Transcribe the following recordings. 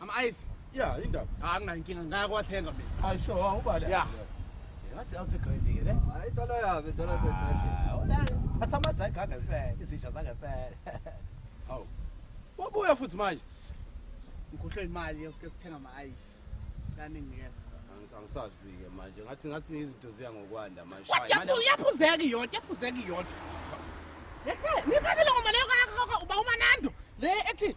Ama ice. Yeah, indaba. Ah, nginayo inkinga ngaya kwathenga mina. Hayi sho ubale. Yeah. Ngathi awuthi grade ke ne? Hayi dola yabe dola ze grade. Awona. Athi amadza igaga phela, izisha zake phela. Hawu. Wabuya futhi manje. Ngikhohlwe imali yokuthenga ama ice. Kani ngiyeza. Angisazi ke manje. Ngathi ngathi izinto ziya ngokwanda manje. Yaphu yaphuzeki yodwa, yaphuzeki yodwa. Lethe, niphathele ngoma leyo kakho uba umanando. Le ethi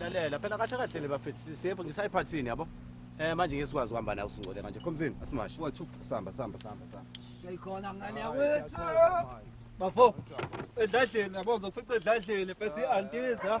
lalela phela kahle kahle le bafethu sisepho ngisayiphathini yabo eh manje ngesikwazi uhamba nawe usingcole kanje khomzini asimashi wathu samba samba samba samba shayikhona ngane yakwethu bafo edladleni yabo ngizokufica edladleni phethe i-antiza